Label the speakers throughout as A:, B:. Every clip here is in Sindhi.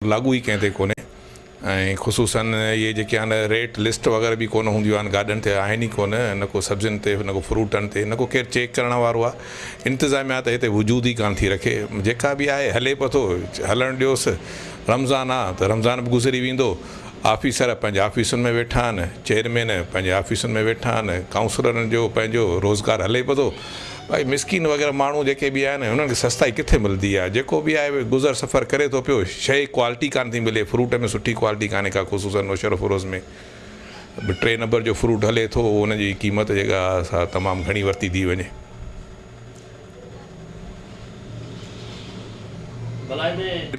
A: لاڳو ئي ڪنهن تي ڪونهي ۽ خصوصن اهي جيڪي آهن ريٽ لسٽ وغيره به ڪونه هونديون آهن گاڏن تي آهن ئي ڪونه نه ڪو سبزين تي نه ڪو فروٽن تي نه ڪو ڪير چيڪ ڪرڻ وارو آهي انتظاميا ته هتي وجود ئي ڪانه ٿي رکي جيڪا به آهي هلي پئي ٿو هلڻ ڏيوس رمضان آهي ته رمضان به گذري ويندو آفيسر پنهنجي آفيسن ۾ ويٺا آهن چيئرمين پنهنجي آفيسن ۾ ويٺا آهن ڪائونسلرن جو پنهنجو روزگار هلي پئي ٿو. ڀائي مسڪين وغيره ماڻهو جيڪي به آهن هنن کي سستائي ڪٿي ملدي آهي جيڪو به آهي اهي گذر سفر ڪري ٿو پيو شيء ڪوالٽي ڪانه ٿي ملي فروٽ ۾ سٺي ڪوالٽي ڪانه ڪا خصوصن نوشهرو فروز ۾ به ٽي نمبر جو فروٽ هلي ٿو ان جي قيمت جيڪا سا تمام گهڻي ورتي ٿي وڃي.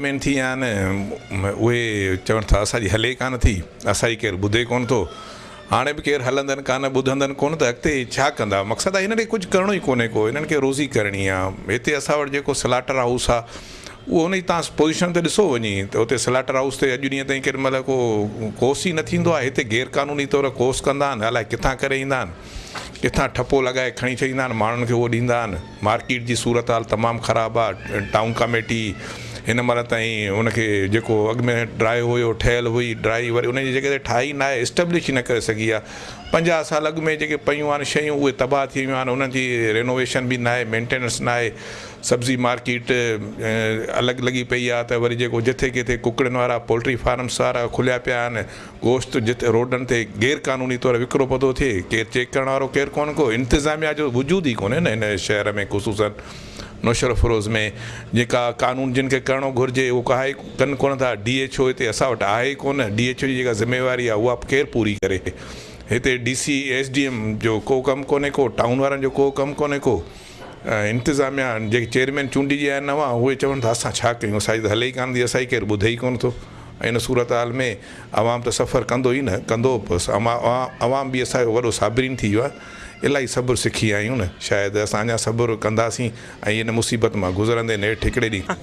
A: مين ٿي آهن اهي چون ٿا اسان جي هلي ڪانه ٿي اسان جي ڪير ٻڌي ڪونه ٿو. هاڻي به ڪير هلندن ڪانه، ٻڌندن ڪونه ته اڳتي ڇا ڪندا؟ مقصد آهي هنن کي ڪجهه ڪرڻو ئي ڪونهي ڪو، هنن کي روزي ڪرڻي آ. هتي اسان وٽ جيڪو سلاٽر هائوس آ اهو ان جي تان پوزيشن ته ڏسو وڃي ته اتي سلاٽر هائوس تي اڄ ڏينهن تائين ڪيڏي مهل ڪو ڪوس ئي نه ٿيندو آهي. هتي غير قانوني طور ڪوس ڪندا آهن، الائي ڪٿان ڪري ايندا آهن، ڪٿان ٺپو لڳائي کڻي ڇڏيندا آهن، ماڻهن کي اهو ڏيندا آهن. مارڪيٽ جي صورتحال تمام خراب آ ٽائون ڪاميٽي هن مهل تائين ان کي جيڪو اڳ ۾ ڊرائي هيو ٺهيل هئي ڊرائي وري ان جي جڳهه تي ٺاهي ناهي اسٽبلش ئي نه ڪري سگهي آ پنجاهه سال اڳ ۾ جيڪي پيون آهن شيون اهي تباهه ٿي ويون آهن انهن جي رينوويشن به ناهي مينٽيننس ناهي سبزي مارڪيٽ الڳ لڳي پئي آ ته وري جيڪو جٿي ڪٿي ڪڪڙين وارا پولٽري فارمس وارا کليا پيا آهن گوشت جتي روڊن تي غير قانوني طور وڪرو پئو ٿو ٿئي ڪير چيڪ ڪرڻ وارو ڪير ڪونه ڪو انتظاميا جو وجود ئي ڪونهي نه هن شهر ۾ خصوصن نوشهروفيروز ۾ جيڪا قانون جن کي ڪرڻو گهرجي اهو ڪهائي ڪن ڪونه ٿا ڊي ايڇ او هتي اسان وٽ آهي ئي ڪونه ڊي ايڇ او جي جيڪا ذميواري آهي اها ڪير پوري ڪري هتي D C S D M جو ڪو ڪم ڪونهي ڪو ٽائون وارن جو ڪو ڪم ڪونهي ڪو. انتظاميا جيڪي چيئرمين چونڊجي آيا آهن نوان اهي چون ته اسان ڇا ڪيون اسان جي ته هلي ئي ڪانه ٿي اسان کي ڪير ٻڌي ئي ڪونه ٿو ۽ ان صورتحال ۾ عوام ته سفر ڪندو ئي نه ڪندو به عوام به اسان جو وڏو صابرين ٿي ويو آهي الاهي صبر سکي آهيون شايد اسان اڃا صبر ڪنداسين ۽ ان مصيبت مان گذرندي نيٺ هڪڙي ڏينهن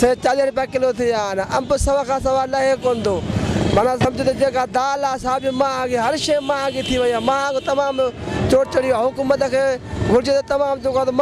B: سي چاليهه رپيا ڪلو ٿي ويا آهن. انب سو کان سوا لهي ڪونه ٿو. معنيٰ سمجهو ته جيڪا دال آهي سا به مهانگي، هر شيء مهانگي ٿي وئي آهي. مهانگو تمام چوٽ چڙهي ويو آهي. حڪومت کي گهرجي ته تمام جيڪو آهي